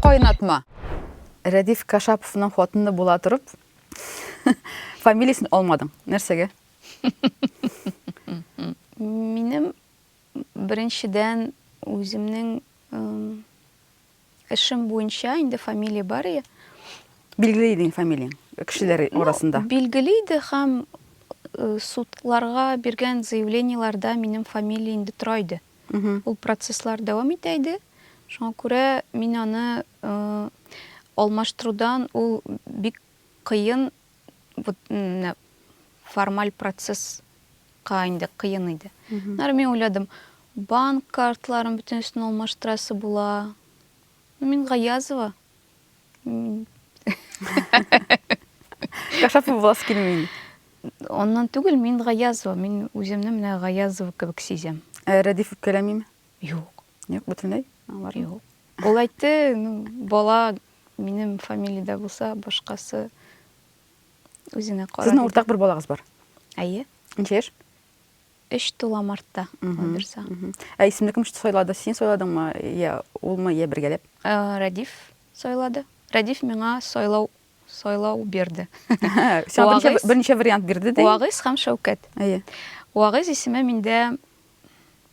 Кайнатма. Рәдиф Кашаповның хатыны була торып, фамилиясен алмадың. Нәрсәгә? Минем беренчедән үземнең Эшем буенча инде фамилия бар и. Билгеле иде инде фамилияң кешеләр арасында. Ну, билгеле иде һәм э, судларга биргән заявлениеләрдә минем фамилия инде тора иде. Ул процесслар дәвам итә иде. Шуңа күрә мин аны э, алмаштырудан ул бик кыен вот менә формаль процесска инде кыен иде. Аннары мин уйладым, банк картларын бөтенесен алмаштырасы була. Ну, мин Гаязова. Кашап буласы килми. Аннан түгел, мин Гаязова. Мин үземне менә Гаязова кебек сизәм. Ә Рәдиф үпкәләмиме? Юк. Юк, бөтенләй? Юк. Ул әйтте, ну, бала Минем фамилия дә булса, башкасы үзенә карар. Сезнең уртак бер балагыз бар. Әйе. Ничә яшь? Өч тула мартта. Буйдырса. Ә исемне кем сайлады? Син сайладыңмы? Я улмы, я бергәләп? Э, Радиф сайлады. Радиф миңа сайлау сайлау бирде. Сиңа берничә вариант бирде ди. Вагыз һәм Шәүкәт. Әйе. Вагыз исеме миндә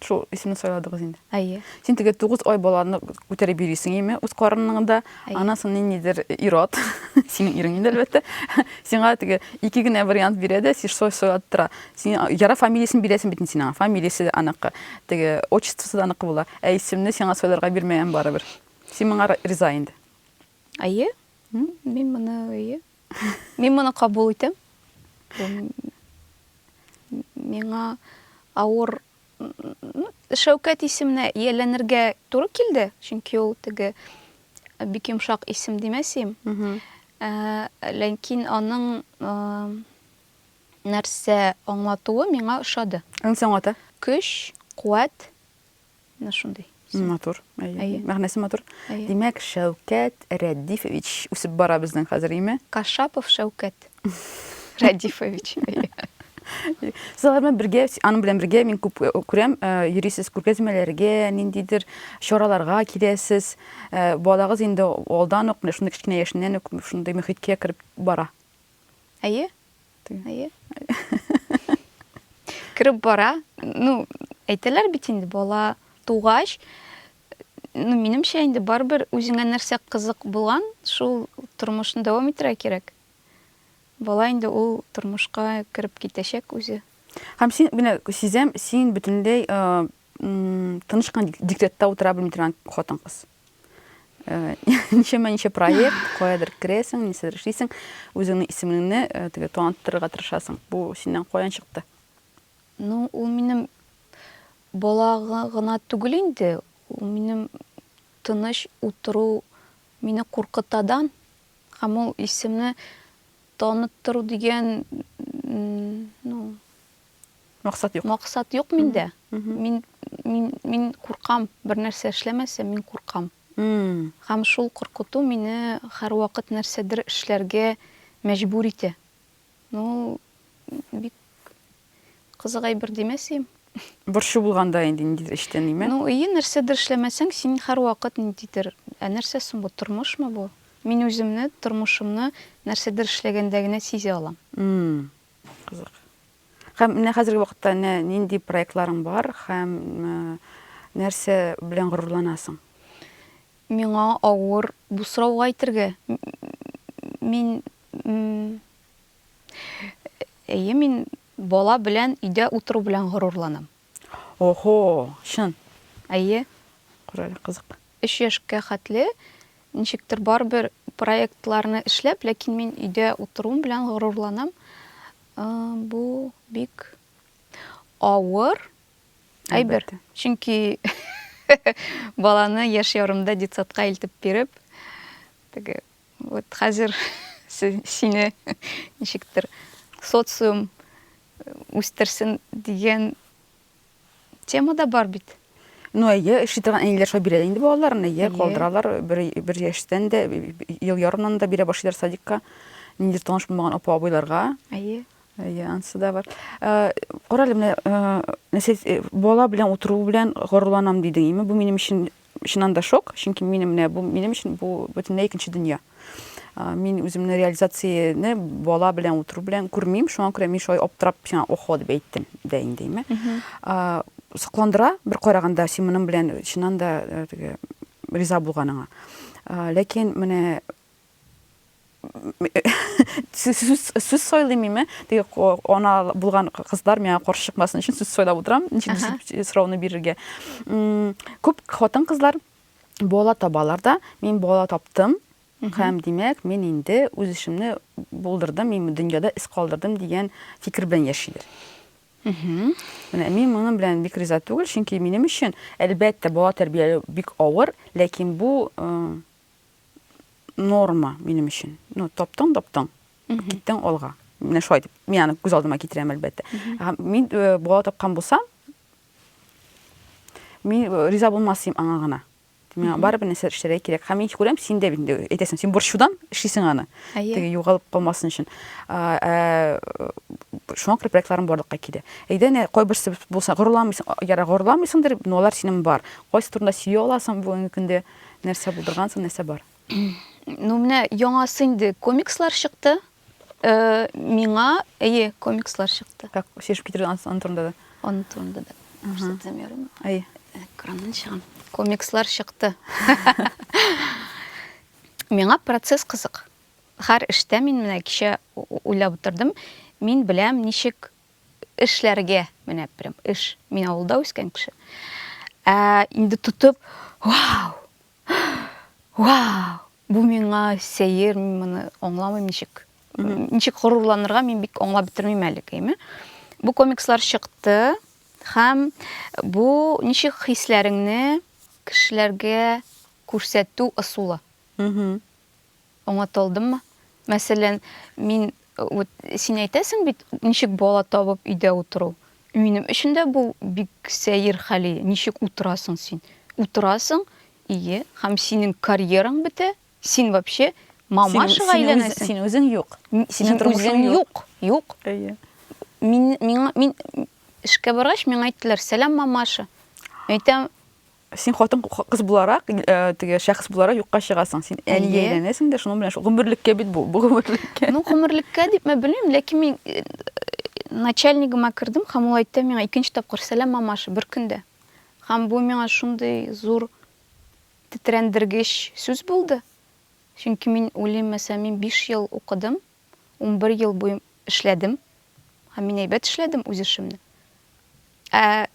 Шул исемне сайладыгыз инде. Әйе. Син теге 9 ай баланы күтәреп йөрисең име, үз карыныңда. Аннан соң ниндидер ир-ат, синең ирең инде әлбәттә, сиңа теге ике генә вариант бирә дә, син сойлап тора. Син яра фамилиясен бирәсең бит син аңа. Фамилиясе дә аныкы, теге отчествосы да аныкы була. Ә исемне сиңа сойларга бирмәгән барыбер. Син моңа риза инде. Әйе, мин моны әйе. Мин моны кабул итәм. Миңа авыр Шәүкәт исеменә ияләнергә туры килде, чөнки ул теге бик йомшак исем димәсем. Ә, ләкин аның нәрсә аңлатуы миңа ошады. Аның аңлата? Көч, куәт, Менә шундый. Матур. Әйе. Мәгънәсе матур. Димәк, Шәүкәт Рәдифович үсеп бара безнең хәзер, име? Кашапов Шәүкәт Рәдифович. Сез алар белән бергә, аның белән бергә мин күп э, күрәм, э, йөрисез күргәзмәләргә, ниндидер чараларга киләсез. Э, балагыз инде алдан ук, менә шундый кечкенә яшеннән үк шундый мөхиткә кереп бара. Әйе. Ты. Әйе. Кереп бара. Ну, әйтәләр бит инде бала тугач, ну, минемчә инде барыбер үзеңә нәрсә кызык булган, шул тормышны дәвам итәргә кирәк. Бала инде ул тормышка кереп китәчәк үзе. Һәм син менә сизәм, син бөтенләй тыныч кына диктатта утыра белми торган хатын-кыз. Э, ничәмә ничә проект, каядыр керәсең, нәрсәдер эшлисең, үзеңнең исемеңне э, теге танытырга тырышасың. Бу синнән каян чыкты? Ну, ул минем бала гына түгел инде, ул минем тыныч утыру мине куркытадан һәм ул исемне таныттыру дигән ну, Максат юк. Максат юк миндә. Мин мин мин куркам, бер нәрсә эшләмәсәм, мин куркам. Һәм шул куркыту мине һәрвакыт нәрсәдер эшләргә мәҗбүр итә. Ну, бик кызык әйбер димәсем. Борчу булганда инде ниндидер эштә ниме? Ну, ие, нәрсәдер эшләмәсәң, син һәрвакыт ниндидер, ә нәрсә соң бу, тормышмы бу? Мин үземне, тормышымны нәрсәдер эшләгәндә генә сизә алам. Кызык. Һәм менә хәзерге вакытта нә нинди проектларың бар һәм э, нәрсә белән горурланасың? Миңа авыр бу сорауга әйтергә. М- Мин м, Әйе, мин бала белән өйдә утыру белән горурланам. Охо, чын. Әйе. Карале, кызык. Өч яшькә хәтле ничектер барыбер проектларны эшләп, ләкин мин өйдә утыруым белән горурланам. Бу бик авыр әйбер. Чөнки баланы яшь ярымда детсадка илтеп биреп, теге Вот хәзер сине ничектер социум үстерсен дигән тема да бар бит. Ну, әйе, эшли торган әниләр шулай бирә инде балаларын, әйе, калдыралар, бер, бер яшьтән дә, ел ярымнан да бирә башлыйлар садикка, ниндидер таныш булмаган апа абыйларга. Әйе. Әйе, ансы да бар. Э, Карале, менә, э, сез э, бала белән утыру белән горурланам дидең, име? Бу минем өчен Чыннан да шок, чөнки мин менә бу минем өчен бу бөтенләй икенче дөнья. Мин үземне реализацияне бала белән утыру белән күрмим, шуңа күрә мин шулай аптырап, сиңа охо дип әйттем дә инде, име. Сокландыра бер караганда син моның белән чыннан да риза булганыңа. Ләкин менә сүз сойлыйм мин теге ана булган кызлар миңа каршы чыкмасын өчен сүз сойлап утырам ничек сорауны бирергә күп хатын кызлар бала табалар да мин бала таптым һәм димәк мин инде үз эшемне булдырдым мин дөньяда эз калдырдым дигән фикер белән яшиләр менә мин моның белән бик риза түгел чөнки минем өчен әлбәттә бала тәрбияләү бик авыр ләкин бу норма минем өчен. Ну, таптың, таптың, киттең алга. Менә шулай дип, мин аны күз алдыма китерәм, әлбәттә. Һәм мин э, бала тапкан булсам, мин э, риза булмас идем аңа гына. Миңа барыбер нәрсә эшләргә кирәк. Һәм мин күрәм, син дә инде әйтәсең, син борчудан эшлисең аны. Әйе. Теге югалып калмасын өчен. А, ә, Шуңа күрә проектларым барлыкка килә. Әйдә, әнә кайберсе булса горурланмыйсың, яра горурланмыйсыңдыр, но алар синең бар. Кайсы турында сөйли аласың бүгенге көндә? Нәрсә булдыргансың, нәрсә бар? Ну, менә яңасы инде комикслар чыкты. Э, миңа, әйе, комикслар чыкты. Так, шешеп китерде аны турында да. Аны турында да. Күрсәтәм ярым. Әйе. Экраннан чыгам. Комикслар чыкты. Миңа процесс кызык. Һәр эштә мин менә кичә уйлап утырдым. Мин беләм, ничек эшләргә менә прям эш. Мин авылда үскән кеше. Ә инде тотып, вау! Вау! Бу миңа сәер, мин моны аңламыйм ничек. Ничек горурланырга мин бик аңлап бетермим әле кеме. Бу комикслар чыкты һәм бу ничек хисләреңне кешеләргә күрсәтү ысулы. Оңатылдыммы? Мәсәлән, мин, вот син әйтәсең бит, ничек бала табып өйдә утыру. Минем өчен дә бу бик сәер хәл иде. Ничек утырасың син? Утырасың, ие, һәм синең карьераң бетә, син вообще мамашага әйләнәсең. Син үзең юк. Синең тормышың юк. Юк. Әйе. Мин, миңа, мин эшкә баргач, миңа әйттеләр, сәлам, мамаша. Әйтәм, Син хатын кыз буларак, теге шәхес буларак юкка чыгасың. Син әни әйләнәсең дә, шуның белән шул гомерлеккә бит бу, бу гомерлеккә. Ну, гомерлеккә дип мен белмим, ләкин мин начальнигыма кердем һәм ул әйтте миңа икенче тапкыр сәлам мамаша бер көндә. Һәм бу миңа шундый зур тетрәндергеч сүз булды. Чөнки мин уйлыйм, мәсәлән, мин 5 ел укыдым, Унбер ел буе эшләдем. Һәм мин әйбәт эшләдем үз эшемне. Ә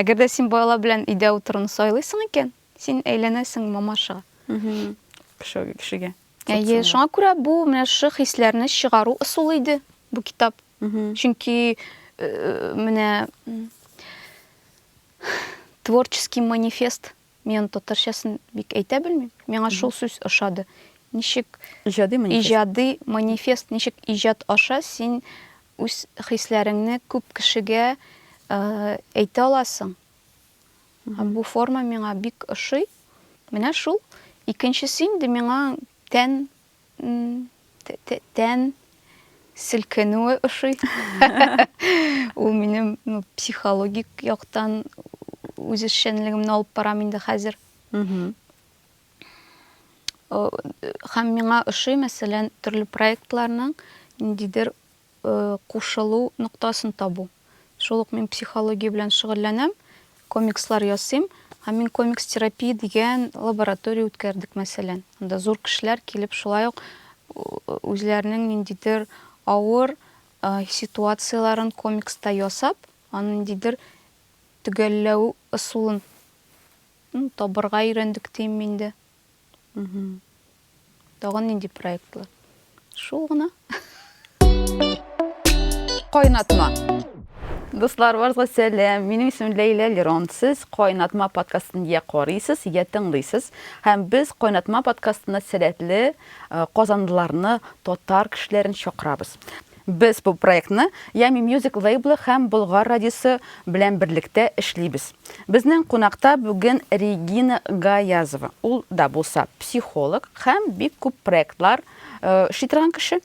әгәр дә син балалар белән өйдә утыруны сайлыйсың икән, син әйләнәсең мамаша. Кеше кешегә. Әйе, шуңа күрә бу менә шушы хисләрне чыгару ысулы иде бу китап. Чөнки э, менә творческий манифест Мин татарчасын бик әйтә белмим. Миңа шул сүз ошады. Ничек Иҗади манифест. иҗади манифест, ничек иҗат аша син үз хисләреңне күп кешегә э, әйтә аласың. Һәм бу форма миңа бик ошый. Менә шул. Икенчесе инде миңа тән Тән селкенүе ошый. Ул минем психологик яктан үз эшчәнлегемне алып барам инде хәзер. Һәм миңа ошый, мәсәлән, төрле проектларның ниндидер кушылу ноктасын табу. Шул ук мин психология белән шөгыльләнәм, комикслар ясыйм. Һәм мин комикс терапия дигән лаборатория үткәрдек, мәсәлән. Анда зур кешеләр килеп, шулай ук үзләренең ниндидер авыр ситуацияләрен комикста ясап, аны ниндидер төгәлләү ысулын табырга өйрәндек, дим инде. Тагын нинди проектлар? Шул гына. Кайнатма. Дуслар, барыгызга сәлам. Минем исемем Ләйлә Лерон. Сез Кайнатма подкастын я карыйсыз, я тыңлыйсыз. Һәм без Кайнатма подкастына сәләтле э, казанлыларны, татар кешеләрен чакырабыз. Без бу проектны Yummy Music лейблы һәм Болгар радиосы белән берлектә эшлибез. Безнең кунакта бүген Регина Гаязова. Ул да булса психолог һәм бик күп проектлар эшли торган кеше.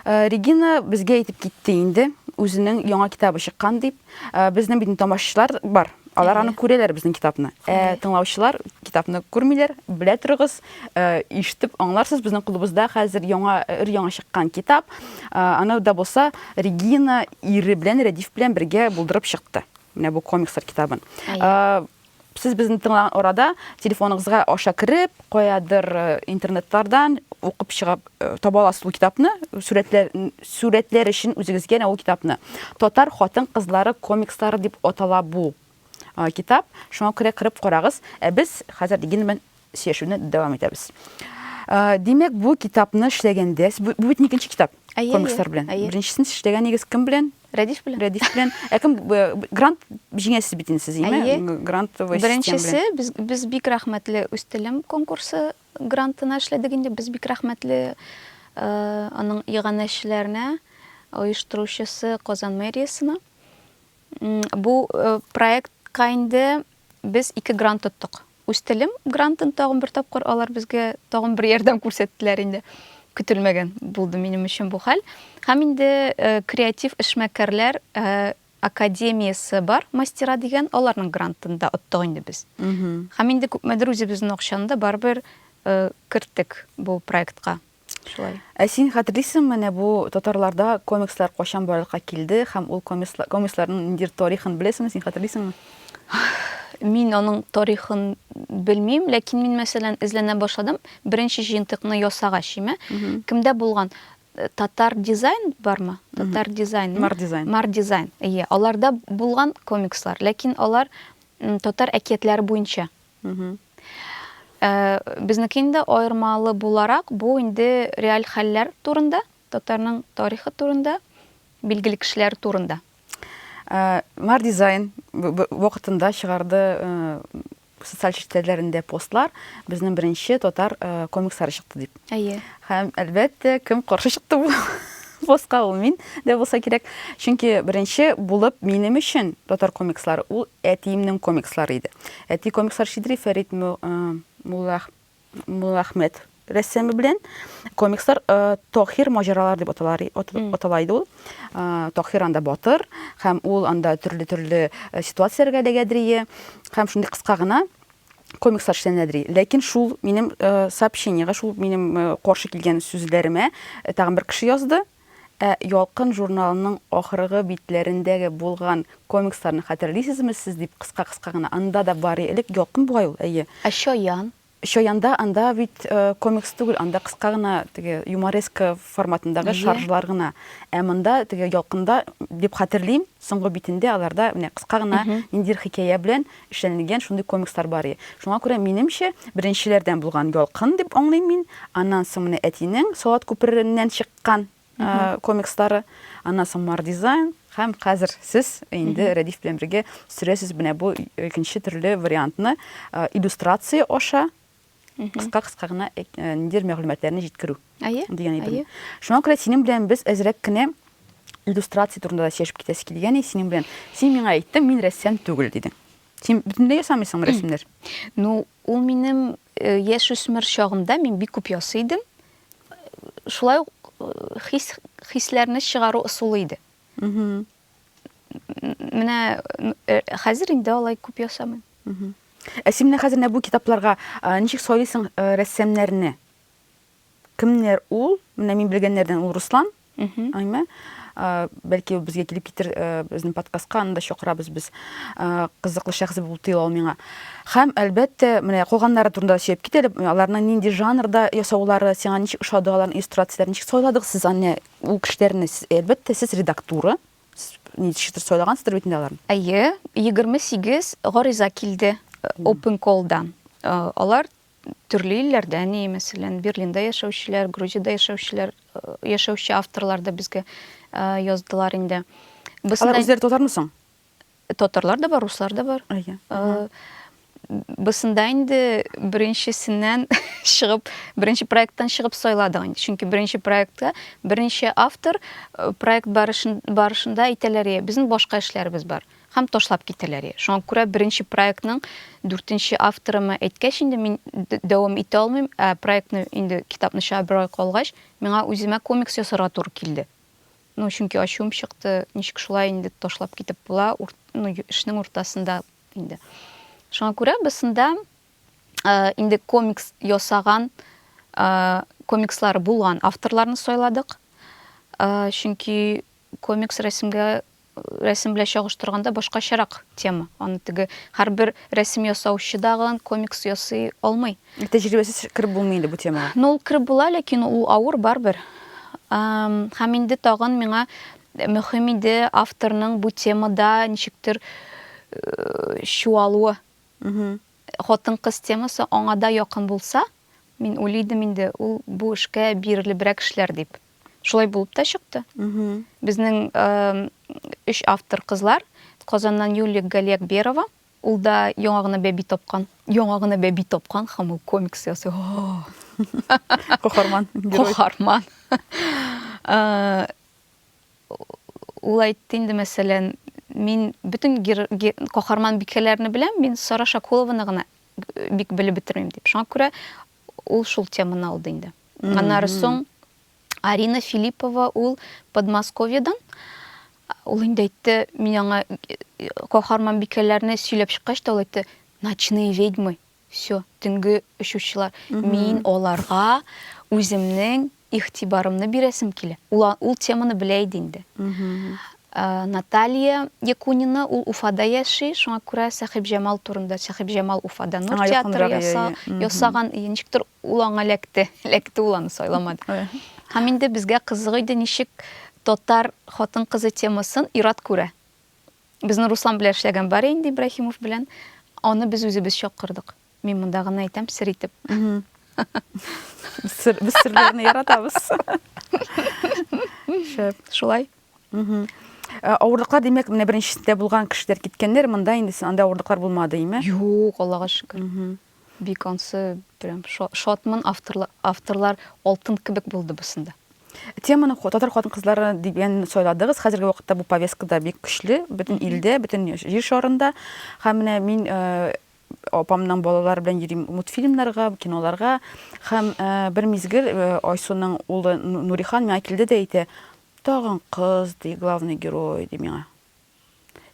Регина безгә әйтеп китте инде, үзенең яңа китабы чыккан дип. Ә, безнең бит тамашачылар бар. Алар аны күрәләр безнең китапны. Ә тыңлаучылар китапны күрмиләр, белә торыгыз, ә, ишетеп аңларсыз, безнең клубыбызда хәзер яңа өр яңа чыккан китап. Ә, аны да булса Регина ире белән Рәдиф белән бергә булдырып чыкты. Менә бу комикслар китабын. Ә, Сез безне тыңлаган арада телефоныгызга аша кереп, каядыр интернетлардан укып чыгып таба аласыз ул китапны, сурәтләр сурәтләр өчен үзегезгә генә ул китапны. Татар хатын-кызлары комикслары дип атала бу китап. Шуңа күрә кереп карагыз. Ә без хәзер Гилман Сөйләшүне дәвам итәбез. Димәк, бу китапны эшләгәндә, бу бит икенче китап комикслар белән. Беренчесен эшләгән егез кем белән? Рәдиф белән. Рәдиф белән. Ә кем грант җиңәсез бит инде сез, әйме? Грантовый система. Беренчесе без без бик рәхмәтле үз телем конкурсы грантына эшләдек инде. Без бик рәхмәтле аның иганәчеләренә, оештыручысы Казан мэриясенә. Бу проектка инде без ике грант тоттык. Үз телем грантын тагын бер тапкыр алар безгә тагын бер ярдәм күрсәттеләр инде. Көтелмәгән булды минем өчен бу хәл. Һәм инде э, креатив эшмәкәрләр э, академиясе бар, мастера дигән, аларның грантында оттык инде без. Һәм инде күпмедер үзебезнең акчаны да барыбер э, керттек бу проектка. Шулай. Ә син хәтерлисең менә бу татарларда комикслар качан барлыкка килде һәм ул комикслар, комиксларның ниндидер тарихын беләсеңме, син хәтерлисеңме? Мин аның тарихын белмим, ләкин мин мәсәлән эзләнә башладым. Беренче җыентыкны ясагач, шимә, кемдә булган? Э, татар дизайн бармы? Татар дизайн. Мар дизайн. Мар дизайн. Ие, аларда булган комикслар, ләкин алар татар әкиятләре буенча. Ә, безнеке инде аермалы буларак, бу инде реаль хәлләр турында, татарның тарихы турында, билгеле кешеләр турында. Ә, Мар дизайн вакытында чыгарды ә, социаль челтәрләрендә постлар, безнең беренче татар ә, комикслары чыкты дип. Әйе. Һәм әлбәттә, кем каршы чыкты бу? Босқа ул мин дә булса кирәк. Чөнки беренче булып минем өчен татар комикслары ул Әтиемнең комикслары иде. Әти комикслар чидри Фәрит Муллахмәт рәссамы белән. Комикслар Тохир маҗаралар дип атала иде ул. Тохир анда батыр һәм ул анда төрле-төрле ситуацияләргә эләгәдерие һәм шундый кыска гына комикслар эшләнәдерие. Ләкин шул минем сообщениегә, шул минем каршы килгән сүзләремә тагын бер кеше язды. Ә Ялкын журналының ахыргы битләрендәге булган комиксларны хәтерлисезме сез? дип кыска-кыска гына. Анда да бар и элек Ялкын бугай ул, әйе. Ә Чаян? Чаянда, анда бит комикс түгел, анда кыска гына теге юмореска форматындагы Әйе. шаржлар гына. Ә монда, теге Ялкында, дип хәтерлим, соңгы битендә аларда менә кыска гына ниндидер хикәя белән эшләнелгән шундый комикслар бар и. Шуңа күрә, минемчә, беренчеләрдән булган Ялкын дип аңлыйм мин. Аннан соң менә әтинең Салат күпереннән чыккан комикслары, аннан соң Мардизайн һәм хәзер сез инде Рәдиф белән бергә сөрәсез менә бу икенче төрле вариантны, иллюстрация аша. кыска-кыска гына э, э, ниндидер мәгълүматларны җиткерү. Әйе. Дигән әйбер. Шуңа күрә синең белән без әзрәк кенә иллюстрация турында да сөйләшеп китәсе килгән иде синең белән. Син миңа әйттең, мин рәссам түгел дидең. Син бөтенләй ясамыйсыңмы рәсемнәр? Ну, ул минем э, яшь үсмер чагымда мин бик күп ясый идем. Шулай ук хис хисләрне чыгару ысулы иде. менә э, хәзер инде алай күп ясамыйм ә син менә хәзер менә бу китапларга ничек сайлыйсың э, рәссамнарны кемнәр ул менә мин белгәннәрдән ул руслан аймә бәлки безгә килеп китер э, безнең подкастка анда чакырабыз без кызыклы шәхес булып тоела ул миңа һәм әлбәттә менә калганнары турында сөйләп кит әле аларның нинди жанрда ясаулары сиңа ничек ошады аларның иллюстрацияләрен ничек сайладыгыз сез аны Ул кешеләрне, әлбәттә, сез редактура, ничектер сайлагансыздыр бит инде аларны. Әйе, 28 гариза килде Open Call-дан. Алар төрле илләрдә ни, мәсәлән, Берлинда яшәүчеләр, Грузиядә яшәүчеләр, яшәүче авторлар да безгә яздылар инде. Алар үзләре татармы соң? татарлар да бар, руслар да бар. Әйе. Э, Бысында инде беренчесеннән чыгып, беренче проекттан чыгып сайладык инде. Чөнки беренче проектка беренче автор э, проект барышын, барышында әйтәләр, «Е, безнең башка эшләребез бар һәм ташлап китәләр. Е. Шуңа күрә беренче проектның дүртенче авторыма әйткәч инде мин д- дәвам итә алмыйм, ә проектны инде китапны чыгарып бер ай калгач, миңа үземә комикс ясарга туры килде. Ну, чөнки ачуым чыкты, ничек шулай инде ташлап китеп була, урт, ну, эшнең уртасында инде. Шуңа күрә без шунда э, инде комикс ясаган, э, комикслары булган авторларны сайладык. Э, чөнки комикс рәсемгә рәсем белән чагыштырганда башкачарак тема. Аны теге һәрбер рәсем ясаучы дагын комикс ясый алмый. Тәҗрибәсез кереп булмый инде бу темага. Ну, ул кереп була, ләкин ул авыр барбер. Һәм инде тагын миңа мөһим иде авторның бу темада ничектер э, чуалуы. Хатын-кыз темасы аңа да якын булса, мин уйлыйдым инде, ул бу эшкә бирелебрәк эшләр дип. Шулай булып та чыкты. Безнең өч автор кызлар, Казаннан Юлия Галиакберова, Ул да яңа гына бәби тапкан. Яңа гына бәби тапкан һәм ул комикс ясый. Каһарман. Каһарман. Ул әйтте инде, мәсәлән, мин бөтен каһарман бикәләрне беләм, мин Сара Шакулованы гына э, бик белеп бетермим дип. Шуңа күрә ул шул теманы алды инде. Аннары соң Арина Филиппова ул Подмосковьедан. Ул инде әйтте, мин аңа каһарман бикәләрне сөйләп чыккач та ул әйтте, ночные ведьмы, все, төнге очучылар. Мин аларга үземнең игътибарымны бирәсем килә. Ул, ул теманы белә иде инде. Э, Наталья Якунина, ул Уфада яши, шуңа күрә Сәхибҗамал турында, Сәхибҗамал Уфада Нур театры яса, ясаган, ничектер Ул аңа эләкте. Эләкте ул аны сайламады. Һәм инде безгә кызык иде, ничек татар хатын-кызы темасын ир-ат күрә. Безнең Руслан белән эшләгән бар инде Ибраһимов белән. Аны без үзебез чакырдык. Мин монда гына әйтәм сер итеп. Сер, без серләрне яратабыз. Шәп. Шулай. Э, авырлыклар димәк менә беренчесендә булган кешеләр киткәннәр монда инде анда авырлыклар булмады име юк аллага шөкер Бик ансы прям шатмын, авторлар алтын кебек булды бусында. Теманы татар хатын-кызлары дигән сайладыгыз. Хәзерге вакытта бу повестка да бик көчле, бөтен илдә, бөтен җир шарында. Һәм менә мин э, апамның балалары белән йөрим мультфильмнарга, киноларга. Һәм э, бер мизгел э, Айсуның улы Нурихан миңа килде дә әйтә, тагын кыз, ди, главный герой, ди миңа.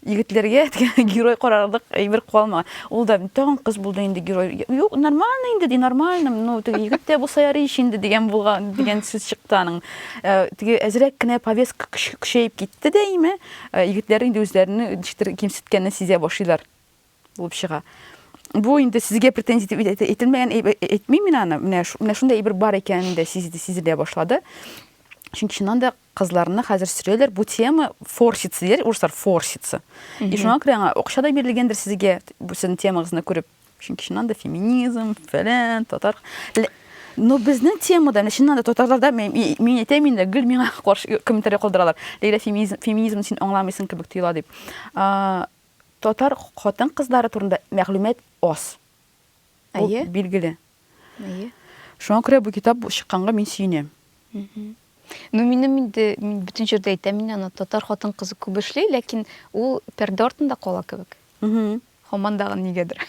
егетләргә герой карарлык әйбер калмаган ул да тагын кыз булды инде герой юк нормально инде ди нормально ну теге егет тә булса ярый ич инде дигән булган дигән сүз чыкты аның э, теге әзрәк кенә повестка көчәеп китте дәйме э, егетләр инде үзләренең ничектер кимсеткәнне сизә башлыйлар булып чыга бу инде сезгә претензия итеп әйтелмәгән әйтмим мин аны менә менә шундай әйбер бар икәнен дә сизелә башлады чөнки чыннан да Кызларны хәзер сөрәләр, бу тема форсится, диләр урыслар, форсится. И шуңа күрә аңа акча да бирелгәндер сезгә, бу сезнең темагызны күреп. Чөнки чыннан да феминизм, фәлән, татар. Но безнең темада, менә чыннан да татарларда мин мин әйтәм инде, гел миңа каршы комментарий калдыралар. Ләйлә феминизм, феминизмны син аңламыйсың кебек тоела дип. Татар хатын-кызлары турында мәгълүмат аз. Әйе. Билгеле. Әйе. Шуңа күрә бу китап чыкканга мин сөенәм. Ну, минем инде мин бөтен җирдә әйтәм инде, ана татар хатын кызы күп эшли, ләкин ул пәрдә артында кала кебек. Һаман дагы нигәдер.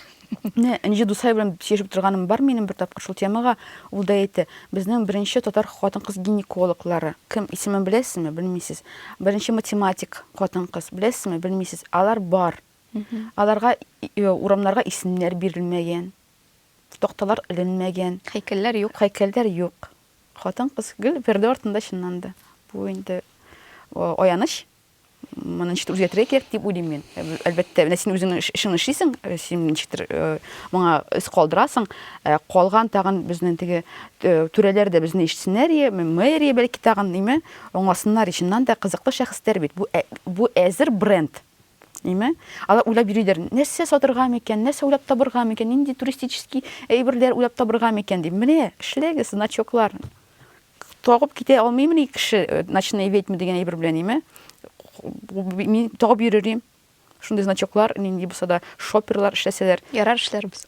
Менә Энҗе Дусай белән сөйләшеп торганым бар минем бер тапкыр шул темага. Ул да әйтте, безнең беренче татар хатын-кыз гинекологлары. Кем исемен беләсезме? Белмисез. Беренче математик хатын-кыз, беләсезме? Белмисез. Алар бар. Аларга урамнарга исемнәр бирелмәгән. Такталар эленмәгән. Һәйкәлләр юк. Һәйкәлләр юк. Хатын-кыз гел пәрдә артында чынланды. Бу инде аяныч. Моны ничектер үзгәртергә кирәк дип уйлыйм мин. Әлбәттә, менә син үзең эшеңне эшлисең, син ничектер моңа эз калдырасың. Ә калган тагын безнең теге түрәләр дә безне ишетсеннәр, мэрия бәлки тагын, ниме, аңласыннар. Чыннан да кызыклы шәхесләр бит. Бу әзер бренд. Әйме? Алар уйлап йөридер, нәрсә сатырга микән, нәрсә уйлап табырга микән, нинди туристический әйберләр уйлап табырга микән дип. Менә, эшләгез, значоклар. Тагып китә алмыймыни кеше э, ночные ведьмы дигән әйбер белән, әйме? Мин тагып йөрерим. Шундый значоклар, нинди булса да, шоперлар эшләсәләр. Ярар эшләрбез.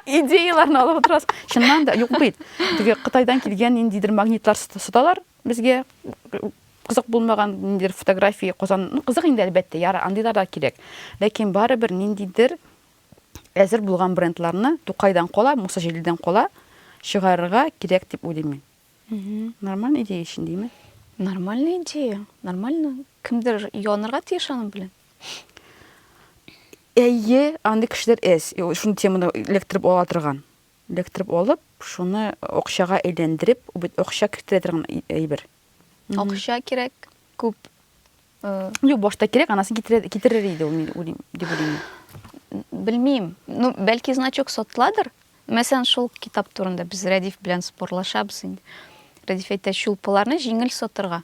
идеяларны алып отырасыз чыннан да юк бит теге кытайдан килгән ниндидер магнитлар саталар Безгә кызык булмаган ниндидер фотография Казан, ну, кызык инде әлбәттә, ярар, андыйлар да кирәк. Ләкин барыбер ниндидер әзер булган брендларны Тукайдан кала, Муса Җәлилдән кала чыгарырга кирәк дип уйлыйм мин. Нормальный идея өчен димме? Нормальный идея, нормально. Кемдер ялынырга тиеш аның белән. Әйе, андый кешеләр әз, шуны теманы эләктереп ала торган. Эләктереп алып, шуны акчага әйләндереп, ул бит акча кертә торган әйбер. Акча кирәк, күп. Юк, башта кирәк, анасын китерер иде ул, дип уйлыйм. Белмим. Ну, бәлки значок сатыладыр. Мәсәлән, шул китап турында без Рәдиф белән спорлашабыз инде. Рәдиф әйтә, чулпыларны җиңел сатырга.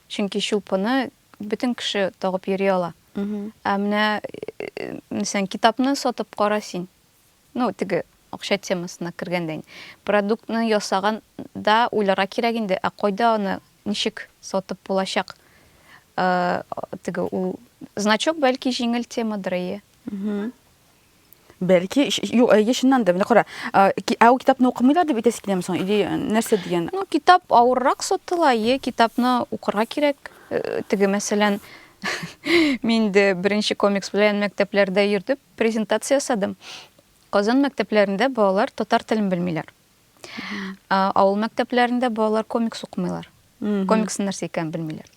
Чөнки чулпыны бөтен кеше тагып йөри ала. Ә менә, мәсәлән, китапны сатып кара син. Ну, теге акча темасына кергәндә инде. Продуктны ясаган да уйларга кирәк инде, ә кайда аны ничек сатып булачак? Э, теге ул значок бәлки җиңел темадыр, әйе. Бәлки, ш- юк, әйе, чыннан да, менә кара, а, ки- ә ул китапны укымыйлар дип әйтәсе киләме соң? Или э, нәрсә дигән? Ну, китап авыррак сатыла, әйе, китапны укырга кирәк. Э, Теге, мәсәлән, мин дә беренче комикс белән мәктәпләрдә йөрдем. Презентация ясадым. Казан мәктәпләрендә балалар татар телен белмиләр. Ә, Авыл мәктәпләрендә балалар комикс укымыйлар. Комиксның нәрсә икәнен белмиләр.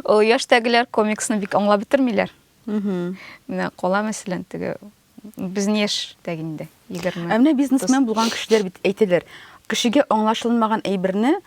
Ул яшьтәгеләр комиксны бик аңлап бетермиләр. Менә кала мәсәлән теге безнең яшьтәге инде 20. Ә менә бизнесмен булган кешеләр бит әйтәләр, кешегә аңлашылмаган әйберне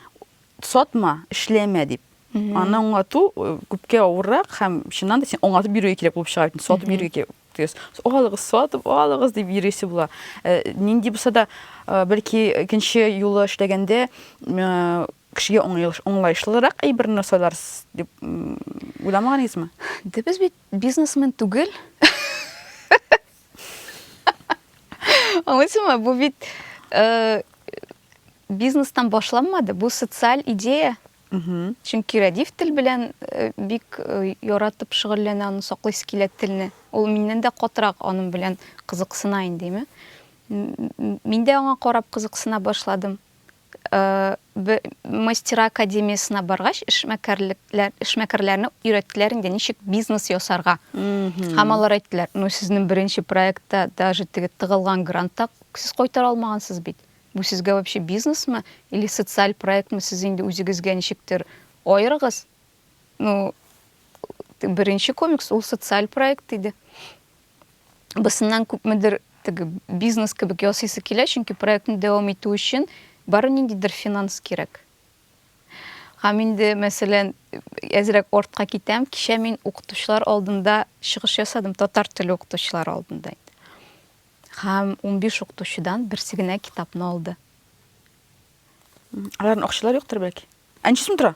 Сатма, эшләмә дип. Аны аңлату э, күпкә авыррак һәм чыннан да син аңлатып бирүе кирәк булып чыга бит. Сатып бирүе кирәк. Дигез, алыгыз, сатып алыгыз дип йөрисе була. Э, нинди булса да, э, бәлки икенче юлы эшләгәндә э, кешегә уңайлыш- уңлаешлырак әйберне сайларсыз дип м, уйламаганыгызмы? Да без бит бизнесмен түгел. Аңлыйсыңмы? Бу бит э, бизнестан башланмады, бу социаль идея. Чөнки Рәдиф тел белән бик яратып шөгыльләнә, аны саклыйсы килә телне. Ул миннән дә катырак аның белән кызыксына инде. Мин дә аңа карап кызыксына башладым. Мастера академиясенә баргач, эшмәкәрләрне өйрәттеләр инде, ничек бизнес ясарга. Һәм алар әйттеләр, ну, сезнең беренче проектта даже теге тыгылган грантта сез кайтара алмагансыз бит. Бу сезгә вообще бизнесмы или социаль проектмы сез инде үзегезгә ничектер аерыгыз ну теге беренче комикс ул социаль проект иде бысыннан күпмедер теге бизнес кебек ясыйсы килә чөнки проектны дәвам итү өчен бары ниндидер финанс кирәк һәм инде мәсәлән әзрәк артка китәм кичә мин укытучылар алдында чыгыш ясадым татар теле укытучылары алдында Һәм унбиш укытучыдан берсе генә китапны алды. Аларның акчалары юктыр бәлки. Ә ничә сум тора?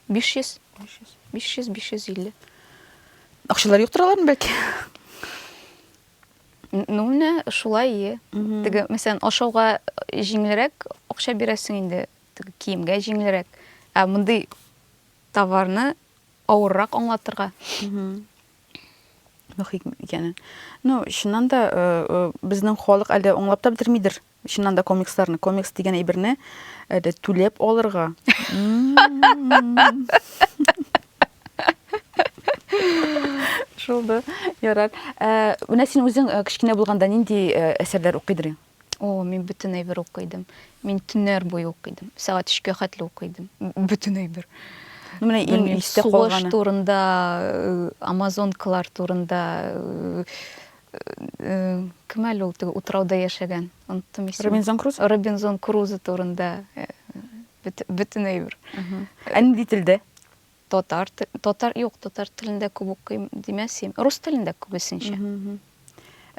Биш йөз. Биш йөз. Биш йөз, биш йөз илле. Акчалары юктыр аларның бәлки. Ну, менә шулай, е. Теге, мәсәлән, ашауга җиңелрәк акча бирәсең инде, теге киемгә җиңелрәк. Ә мондый товарны авыррак аңлатырга. мөхит икәнен. Ну, чыннан да э, э, безнең халык әле аңлап та бетермидер. Чыннан да комиксларны, комикс дигән әйберне әле түләп алырга. Шулды. Ярар. Э, Менә син үзең э, кечкенә булганда нинди э, әсәрләр укыйдыр идең? О, мин бөтен әйбер укый идем. Мин төннәр буе укый идем. Сәгать өчкә хәтле укый идем. Бөтен әйбер. Ну, менә иң Белмим, истә сугыш калганы. турында, э, амазонкалар турында, э, э, кем әле ул теге утрауда яшәгән? Оныттым исемен. Робинзон Круз? Робинзон Крузо турында э, бөт- бөтен әйбер. Ә нинди телдә? Татар те татар юк, татар телендә күп укыйм димәсим. Рус телендә күбесенчә.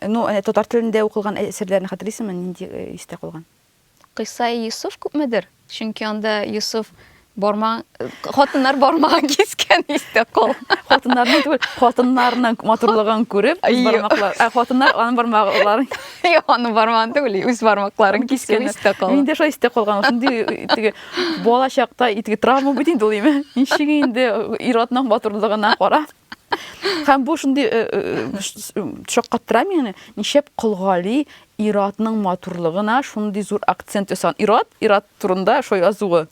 Ну, әнә татар телендә укылган әсәрләрне хәтерлисеңме, нинди истә калган? Кыйсаи Йосыф күпмедер, чөнки анда Йосыф барма, хатыннар бармагын кискән истә кал. Хатыннарны түгел, хатыннарның матурлыгын күреп, үз бармаклар, ә хатыннар аның бармакларын. Юк, аның бармагын түгел, үз бармакларын кискән истә кал. Миндә шулай истә калган, шундый теге Бала чакта итге травма бит инде ул име? Ничек инде ир-атның батырлыгына карап. Һәм бу шундый э, э, э, шаккаттыра мине, ничек Колгали ир-атның матурлыгына шундый зур акцент ясаган. Ир-ат, ир-ат турында шо язуы.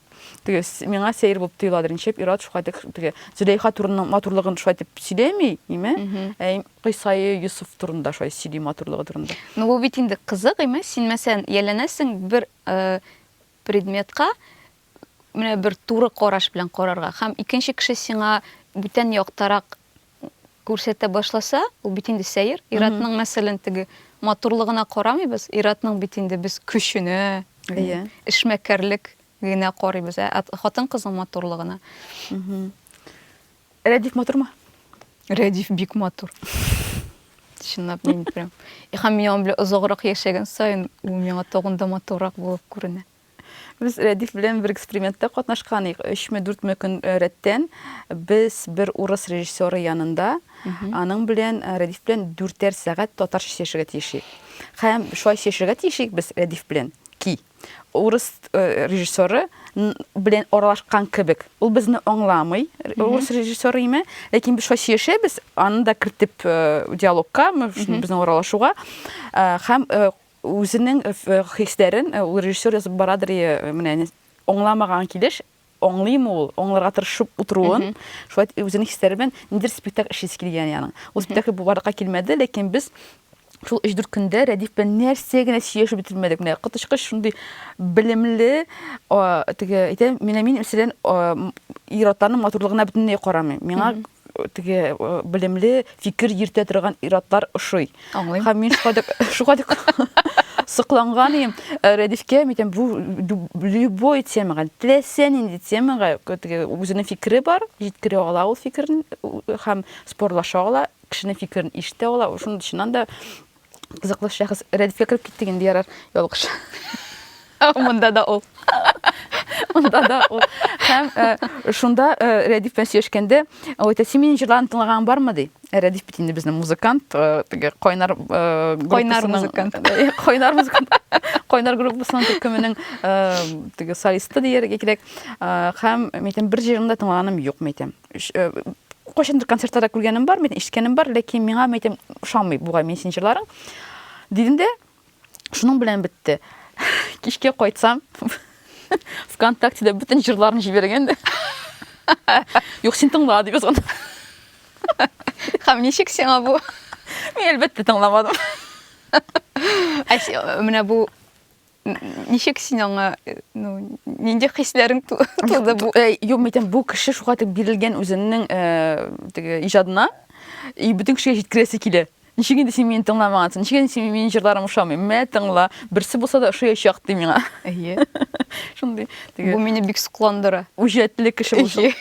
Теге миңа сәер булып тоеладыр. Ничек ир-ат шулай дип теге Зөләйха турының матурлыгын шулай дип сөйләми, име? Ә Кыйсайы Юсуф турында шулай сөйли матурлыгы турында. Ну бу бит инде кызык име? Син мәсәлән, яләнәсең бер Предметка менә бер туры караш белән карарга һәм икенче кеше сиңа бүтән яктарак күрсәтә башласа, ул бит инде сәер. Иратның, мәсәлән, теге матурлыгына карамыйбыз, иратның бит инде без көченә, Әйе. эшмәкәрлек генә карыйбыз, ә хатын-кызның матурлыгына. Рәдиф матурмы? Рәдиф бик матур. Чынлап мин прям. И һәм мин аның белән озаграк яшәгән саен, ул миңа тагын да матуррак булып күренә. Без Рәдиф белән бер экспериментта катнашкан идек. 3-4 көн э, рәттән без бер урыс режиссеры янында аның белән э, Рәдиф белән дүртәр сәгать татарча сөйләшергә тиеш идек. Һәм шулай сөйләшергә тиеш идек без Рәдиф белән ки, урыс режиссеры белән аралашкан кебек. Ул безне аңламый, урыс режиссеры име, ләкин без шулай сөйләшәбез, аны да кертеп диалогка, безнең аралашуга һәм үзенең хисләрен ул режиссер язып барадыр, менә аңламаган килеш аңлыймы ул, аңларга тырышып утыруын, шулай итеп үзенең хисләре белән ниндидер спектакль эшлисе килгән яның. Ул спектакль бу барлыкка килмәде, ләкин без шул 3-4 көндә Рәдиф белән нәрсә генә сөйләшеп бетермәдек. Менә коточкыч шундый белемле, теге әйтәм, менә мин мәсәлән ир-атларның матурлыгына бөтенләй карамыйм. Миңа теге белемле, фикер йөртә торган иратлар ошый. Аңлыйм. Һәм мин шуга дәк шуга дәк сокланган идем. Э, Рәдифкә митем бу любой темага, теләсә нинди темага теге үзенең фикере бар, җиткерә ала ул фикерен һәм спорлаша ала, кешенең фикерен ишетә ала. Шуның чыннан да Кызыклы шәхес рәдифкә кереп киттек инде ярар, ялгыш. Монда да ул. Монда да ул. Һәм э, шунда э, Рәдиф белән сөйләшкәндә, ул әйтә, син минем җырларымны тыңлаган бармы ди. Ә Рәдиф бит инде безнең музыкант, э, теге кайнар э, группасының- Кайнар музыкант. Э, Кайнар музыкант. Кайнар группасының төркеменең э, теге солисты дияргә кирәк. Э, Һәм мин әйтәм, бер җырын да тыңлаганым юк, мин әйтәм. Кайчандыр концертларда күргәнем бар, мин ишеткәнем бар, ләкин миңа мәйтем ошамый бугай мин син җырларың. Дидем дә, шуның белән бетте. Кичкә кайтсам, ВКонтактеда бөтен җырларын җибәргән дә. Юк, син тыңла дип язган. Хәм ничек сиңа бу? Мин әлбәттә тыңламадым. Ә менә бу Ничек син аңа, ну, нинди хисләрең туды бу? Э, юк, митем, бу кеше шуга дип бирелгән үзенең э, теге иҗадына и бөтен кешегә җиткерәсе килә. Ничек инде син мине тыңламагансың? Ничек инде син минем җырларым ошамый? Мә тыңла, берсе булса да ошаячак ди миңа. Әйе. Шундый. Бу мине бик сокландыра. Үҗәтле кеше булып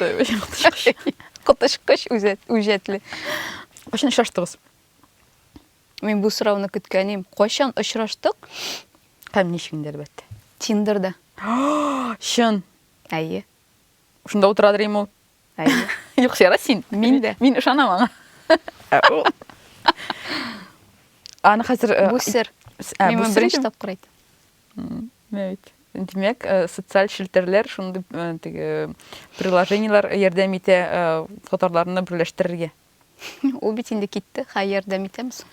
чыкты. Коточкыч үҗәтле. Кайчан очраштыгыз? Мин бу сорауны көткәнем. Кайчан очраштык? Һәм ничек инде әлбәттә. Тиндерда. Чын. Әйе. Шунда утырадыр инде ул. Әйе. Юк, сера син. Мин дә. Мин ышанам аңа. Аны хәзер э, Бу сер. Ә, Мин бу моны сер беренче идем. тапкыр әйттем. М, менә бит. Димәк, э, социаль челтәрләр шундый э, теге приложениелар ярдәм итә э, татарларны берләштерергә. Ул бит инде китте, хәй ярдәм итәм соң.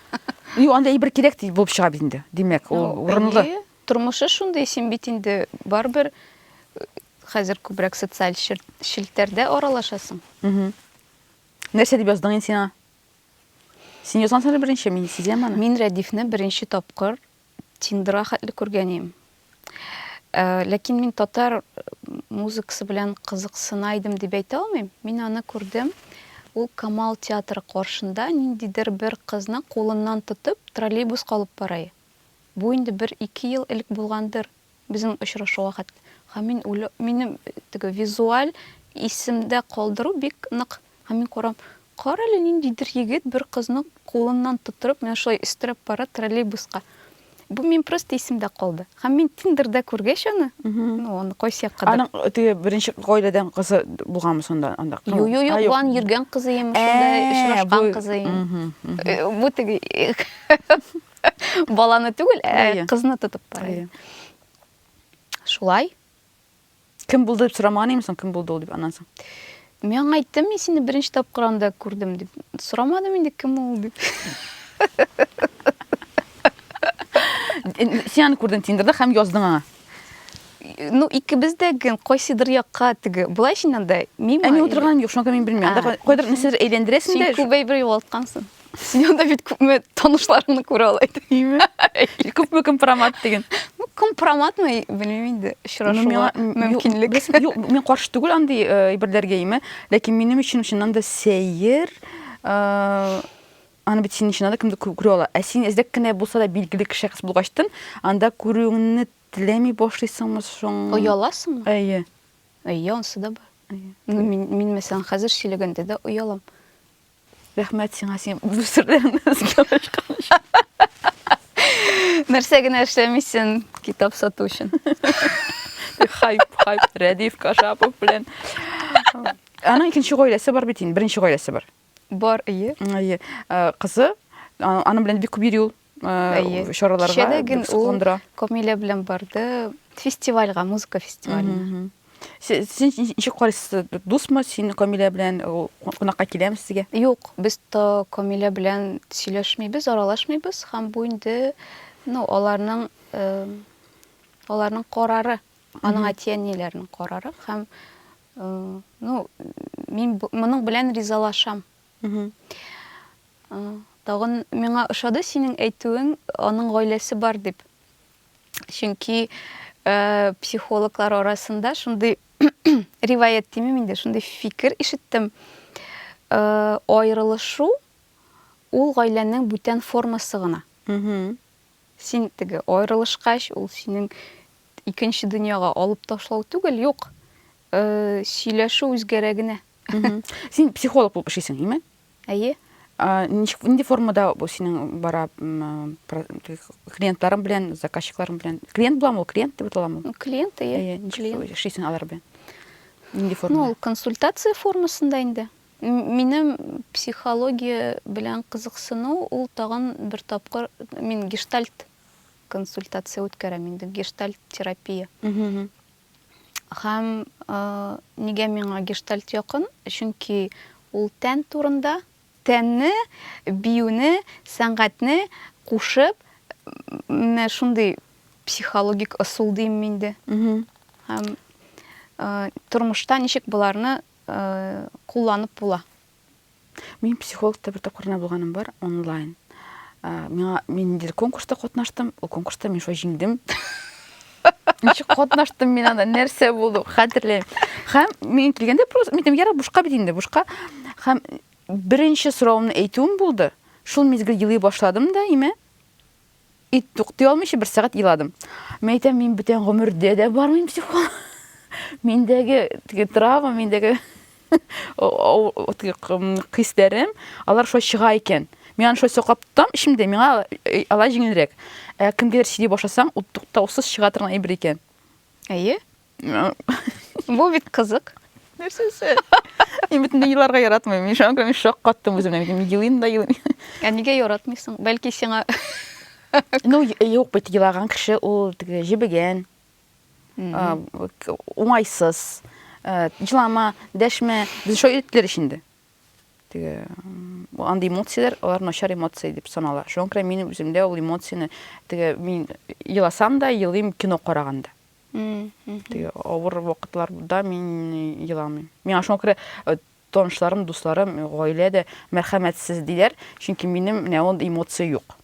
Юк, анда әйбер кирәк ди булып чыга бит инде. Димәк, ул урынлы. Тормышы шундый, син бит инде барыбер э, хәзер күбрәк социаль челтәрдә аралашасың. Нәрсә дип яздың инде сиңа? Син язгансың әле беренче, мин сизәм аны. Мин Рәдифне беренче тапкыр Тиндра хәтле күргәнем. Э, ләкин мин татар музыкасы белән кызыксына идем дип әйтә алмыйм. Мин аны күрдем. Ул Камал театры каршында ниндидер бер кызны кулыннан тотып троллейбус калып барай. Бу инде бер ике ел элек булгандыр. Безнең очрашу вакыт һәм мин үлү, минем теге визуаль исемдә калдыру бик нык. Һәм мин карам, карале, ниндидер егет бер кызны кулыннан тотырып, менә шулай өстерәп бара троллейбуска. Бу мин просто исемдә калды. Һәм мин Тиндерда күргәч аны, ну, аны кайсы якка да. Аның теге беренче гаиләдән кызы булганмы сонда анда? Юк, юк, юк, ван йөргән кызы имеш, шунда очрашкан кызы. Бу теге Баланы түгел, ә кызны тотып бара. Шулай. Кем булды дип сорамаган имсең, кем булды ул дип аннан соң. Мин аңа әйттем, мин сине беренче тапкыр анда күрдем дип. Сорамадым инде кем ул дип. Син аны күрдең Тиндерда һәм яздың аңа. Ну, икебез дә ген кайсыдыр якка теге. Булай син анда мин. Ә мин утырган юк, шуңа мин белмим. Анда кайдыр нәрсәдер әйләндерәсең дә. Син күп әйбер югалткансың. Син анда бит күпме танышларымны күрә ала идең. Күпме компромат деген. Ну, компроматмы, белмим инде, очрашуга мөмкинлек. Юк, мин каршы түгел андый э, әйберләргә име, ләкин минем өчен чыннан да сәер э, аны бит синең чыннан да кемдер күрә ала. Ә син эзләп кенә булса да билгеле кеше хис булгачтын, анда күрүеңне теләми башлыйсыңмы соң? Ояласыңмы? Әйе. Әйе, онсы да бар. Ну, мин, мин мәсәлән, хәзер сөйләгәндә дә оялам. Рәхмәт сиңа, син бу серләрне эзгә ашканча. Нәрсә генә эшләмисен китап сату өчен. Хайп, хайп, Рәдиф Кашапов белән. Аның икенче гаиләсе бар бит инде, беренче гаиләсе бар. Бар, ие. Ие. Кызы, аның белән бик күп йөри ул. Әйе. чараларга Кичәдә гел ул сокландыра. Камилә белән барды фестивальгә, музыка фестиваленә. Се- Сез ни- ничек карыйсыз? Дусмы син Камилә белән ул кунакка киләме сезгә? Юк, без то Камилә белән сөйләшмибез, аралашмыйбыз һәм бу инде, ну, аларның э, аларның карары, аның әти-әниләренең карары һәм э, ну, мин бу- моның белән ризалашам. Тагын миңа ошады синең әйтүең, аның гаиләсе бар дип. Чөнки э, психологлар арасында шундый риваять димим инде, шундый фикер ишеттем. Э, аерылышу ул гаиләнең бүтән формасы гына. Син теге аерылышкач, ул синең икенче дөньяга алып ташлау түгел, юк. Сөйләшү үзгәрә генә. Син психолог булып эшлисең, име? Әйе. Нинди формада бу синең бара клиентларың белән, заказчикларың белән? Клиент буламы ул? Клиент дип аталамы? Клиент, әйе. Клиент. Эшлисең алар белән. Нинди форма? Ну, консультация формасында инде. Минем психология белән кызыксыну ул тагын бер тапкыр мин гештальт консультация үткәрәм инде, гештальт терапия. Һәм нигә миңа гештальт якын? Чөнки ул тән турында. Тәнне, биюне, сәнгатьне кушып, менә шундый психологик ысул димме инде. Һәм тормышта ничек боларны кулланып була? Мин психологта бер тапкыр гына булганым бар, онлайн. Миңа мин ниндидер конкурста катнаштым, ул конкурста мин шулай җиңдем. Ничек катнаштым мин анда, нәрсә булды, хәтерләмим. Һәм мин килгәндә просто мин ярар бушка бит инде, бушка. Һәм беренче соравымны әйтүем булды. Шул мизгел елый башладым да, имә. И туктый алмыйча бер сәгать иладым. Мин әйтәм, мин бүтән гомердә дә бармыйм психолог. Миндәге теге травма, миндәге хисләрем, алар шулай чыга икән. Мин аны шулай саклап тотам эчемдә, миңа э, алай җиңелрәк. Ә кемгәдер сөйли башласаң, ут туктаусыз чыга торган әйбер икән. Әйе. Бу бит кызык. Нәрсәсе? Мин бит инде еларга яратмыйм. Мин шуңа күрә мин шаккаттым үземне. Мин елыйм да елыйм. Ә нигә яратмыйсың? Бәлки сиңа Ну, юк бит елаган кеше ул теге җебегән. А, к- Уңайсыз. Э, Җылама, дәшмә. Без шулай өйрәттеләр ич инде. Теге м, бу андый эмоцияләр, алар начар эмоция дип санала. Шуңа күрә минем үземдә ул эмоцияне теге мин еласам да, елыйм кино караганда. Теге авыр вакытларда мин еламыйм. Миңа шуңа күрә танышларым, дусларым, гаилә дә мәрхәмәтсез диләр, чөнки минем менә ул эмоция юк.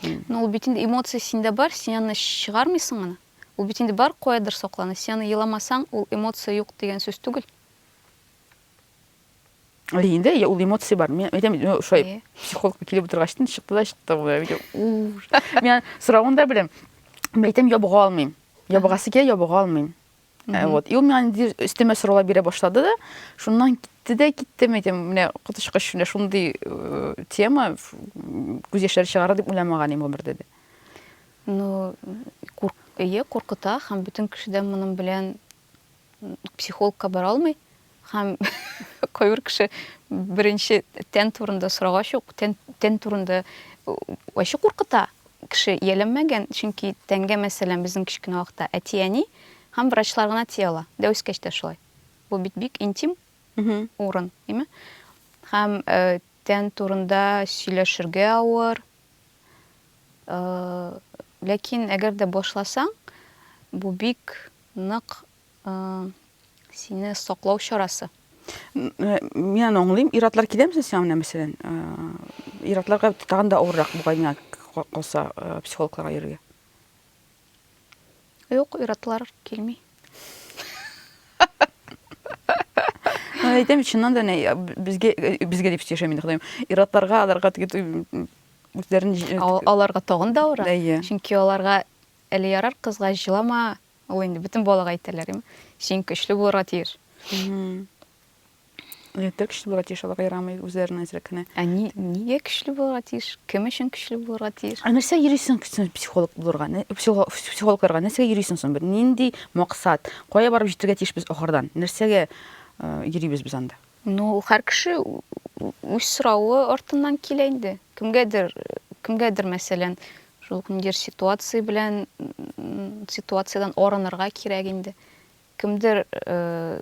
Ну, ул бит инде эмоция синдә бар, син аны чыгармыйсың аны. Ул бит инде бар каядыр саклана. Син аны еламасаң, ул эмоция юк дигән сүз түгел. Әй, инде я- ул эмоция бар. Мин әйтәм бит, ну, шулай Әйе. психологка килеп утыргачтын, чыкты да чыкты ул. Әйтәм, «Ур». Мин соравын да беләм. Мин әйтәм, ябыга алмыйм. Ябыгасы килә, ябыга алмыйм. Ә, Вот. И ул миңа инде өстәмә сораулар бирә башлады да, шуннан китте дә китте. Мин әйтәм, менә коточкыч менә шундый э, тема ф- м, күз яшьләре чыгарыр дип уйламаган идем гомердә дә. Ну, курк... Әйе, куркыта һәм бөтен кеше дә моның белән психологка бара алмый һәм кайбер кеше беренче тән турында сорагач ук тән, тән турында ачы куркыта кеше ияләнмәгән чөнки тәнгә мәсәлән безнең кечкенә вакытта әти әни һәм врачлар гына тия ала дә үскәч тә шулай бу бит бик интим урын әйме һәм э, тән турында сөйләшергә авыр э, ләкин әгәр дә башласаң бу бик Нык сине саклау чарасы. Мин аны аңлыйм. Иратлар килә мисән сиңа менә мәсәлән? Иратларга тагын да авыррак бугай миңа калса психологларга йөрергә. Юк, иратлар килми. Мен әйтәм бит, чыннан да әнә безгә безгә дип яшәми инде Ходаем. Иратларга, аларга теге үзләрен аларга тагын да авыр. Чөнки аларга Әле ярар кызга җылама, ул инде бөтен балага әйтәләр, м, син көчле булырга тиеш. Егетләр көчле булырга тиеш, алар ярамый, үзләренең әзрәк кенә. Ә ни, нигә көчле булырга тиеш? Кем өчен көчле булырга тиеш? Ә нәрсә йөрисең син психолог булырга? Нә- психо- Психологларга нәрсәгә йөрисең соң? Бер нинди максат? Кая барып җитәргә тиеш без ахырдан? Нәрсәгә э, йөрибез без анда? Ну, ул һәр кеше ү- ү- үз соравы артыннан килә инде. Кемгәдер, кемгәдер, мәсәлән, Шул ниндидер ситуация белән, ситуациядән арынырга кирәк инде. Кемдер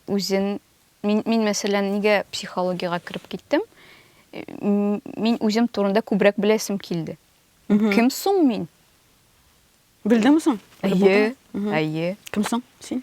үзен, мин, мин мәсәлән, нигә психологиягә кереп киттем? Мин үзем турында күбрәк беләсем килде. Кем соң мин? Белдеңме соң? Әйе, әйе. Кем соң син?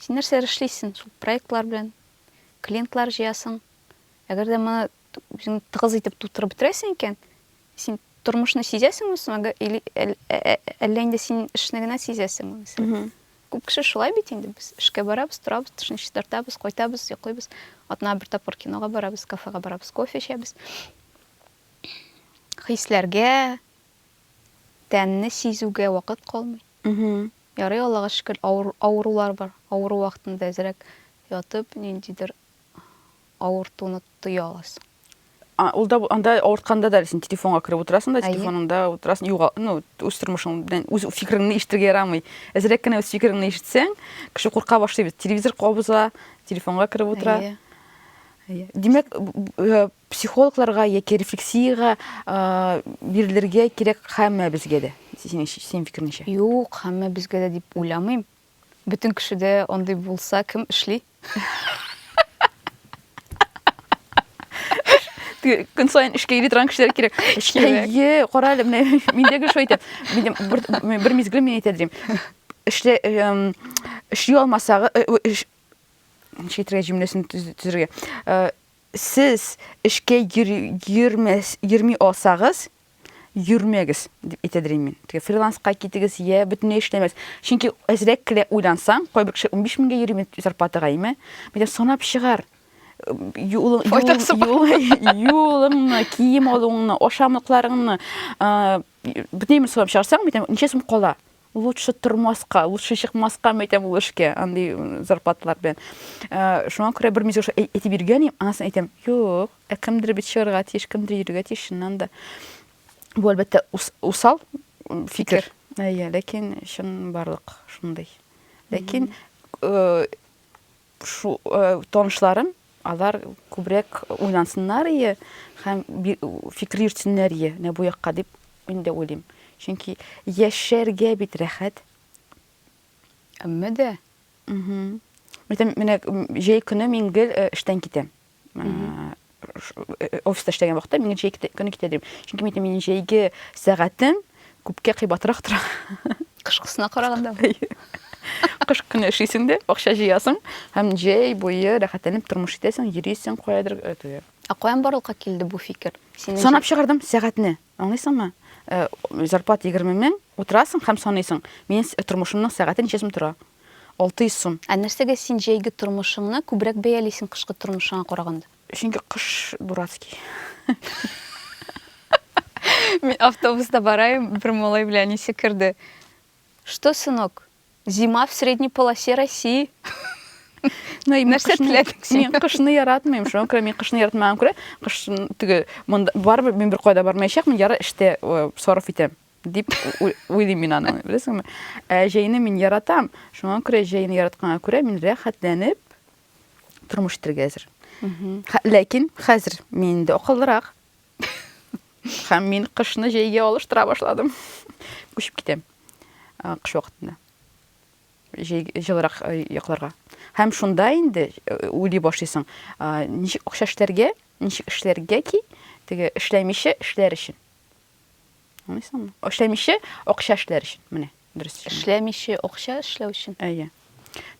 Син нәрсәләр эшлисең шул проектлар белән? Клиентлар җыясың. Әгәр дә моны үзең тыгыз итеп тутырып бетерәсең икән, син тормышны сизәсеңме соң, или әллә инде син эшне генә сизәсеңме, мәсәлән? Күп кеше шулай бит инде, без эшкә барабыз, торабыз, тешне чистартабыз, кайтабыз, йоклыйбыз. Атнага бер тапкыр кинога барабыз, кафега барабыз, кофе эчәбез. Хисләргә, тәнне сизүгә вакыт калмый. Ярый, Аллага шөкер, авыр, авырулар бар. Авыру вакытында әзрәк ятып, ниндидер авыртуны тоя аласың. А, ул да анда авыртканда да син телефонга кереп утырасың да, телефоныңда утырасың, юга, ну, үз тормышың белән үз фикереңне ишетергә ярамый. Әзрәк кенә үз фикереңне ишетсәң, кеше курка башлый бит. Телевизор кабыза, телефонга кереп утыра. Әйе. Әйе. Димәк, э, Психологларга яки рефлексиягә бирелергә кирәк һәммәбезгә дә, синең фикереңчә? Юк, һәммәбезгә дә дип уйламыйм. Бөтен кешедә андый булса, кем эшли? Көн саен эшкә йөри торган кешеләр кирәк. Әйе, кара әле, менә мин дә гел шулай әйтәм. Бер мизгел мин әйтә дим. Эшле эшли алмасагы, ничек әйтергә җөмләсен төзергә? Сез эшкә йөрми алсагыз, йөрмәгез, дип әйтәдер мин. Теге фриланска китегез, йә бөтенләй эшләмәгез. Чөнки әзрәк кенә уйлансаң, кайбер кеше унбиш меңгә йөри бит зарплатага, әйме? Мәйтәм, санап чыгар. Юлыңны, кием алуыңны, ашамлыкларыңны, бөтенләй санап чыгарсаң, мәйтәм, ничә сум кала? Лучше тормаска, лучше чыкмаскамы әйтәм ул эшкә, андый зарплаталар белән. Шуңа күрә бер мизгел шулай әйтеп йөргән идем, аннан соң әйтәм, юк, ә кемдер бит чыгарга тиеш, кемдер йөрергә тиеш, чыннан да. Бу, әлбәттә, усал фикер. Әйе, ләкин чын барлык шундый. Ләкин Шу, танышларым, алар күбрәк уйлансыннар ие һәм фикер йөртсеннәр ие, менә бу якка дип мин дә уйлыйм. Чөнки яшәргә бит рәхәт. Әмма дә. Мхм. Мәсәлән, менә җәй көне мин гел эштән китәм. офиста эшләгән вакытта мин җәй көне китә дим. Чөнки мин минем җәйге сәгатем күпкә кыйбатрак тора. Кышкысына караганда. Кыш көне эшлисең дә, акча җыясың һәм җәй буе рәхәтләнеп тормыш итәсең, йөрисең каядыр. Ә каян барлыкка килде бу фикер? Санап чыгардым сәгатьне. Аңлыйсыңмы? Э, зарплата егерме мең, утырасың һәм саныйсың, минем тормышымның сәгате ничә сум тора? Алты йөз сум. Ә нәрсәгә син җәйге тормышыңны күбрәк бәялисең кышкы тормышыңа караганда? Чөнки кыш дурацкий. Мин автобуста бараем, бер малай белән әнисе керде. Что, сынок? Зима в средней полосе России. Нәрсә теләдең син? Мин кышны яратмыйм, шуңа күрә мин кышны яратмаган күрә, кыш теге монда барыбер мин бер кайда бармаячакмын, яры эштә сарыф итәм дип уйлыйм мин аны, беләсеңме? Ә җәйне мин яратам, шуңа күрә җәйне яратканга күрә мин рәхәтләнеп тормыш итәргә әзер. Ләкин хәзер мин инде акыллырак, Һәм мин кышны җәйгә алыштыра башладым. Күчеп китәм э, кыш вакытында. Җәй җылырак э, якларга. Һәм шунда инде э, уйлый башлыйсың, ничек акча эшләргә, ничек эшләргә ки, теге эшләмичә эшләр өчен. Аңлыйсыңмы? Эшләмичә акча эшләр өчен. Менә, дөрес. Эшләмичә акча эшләү өчен. Әйе.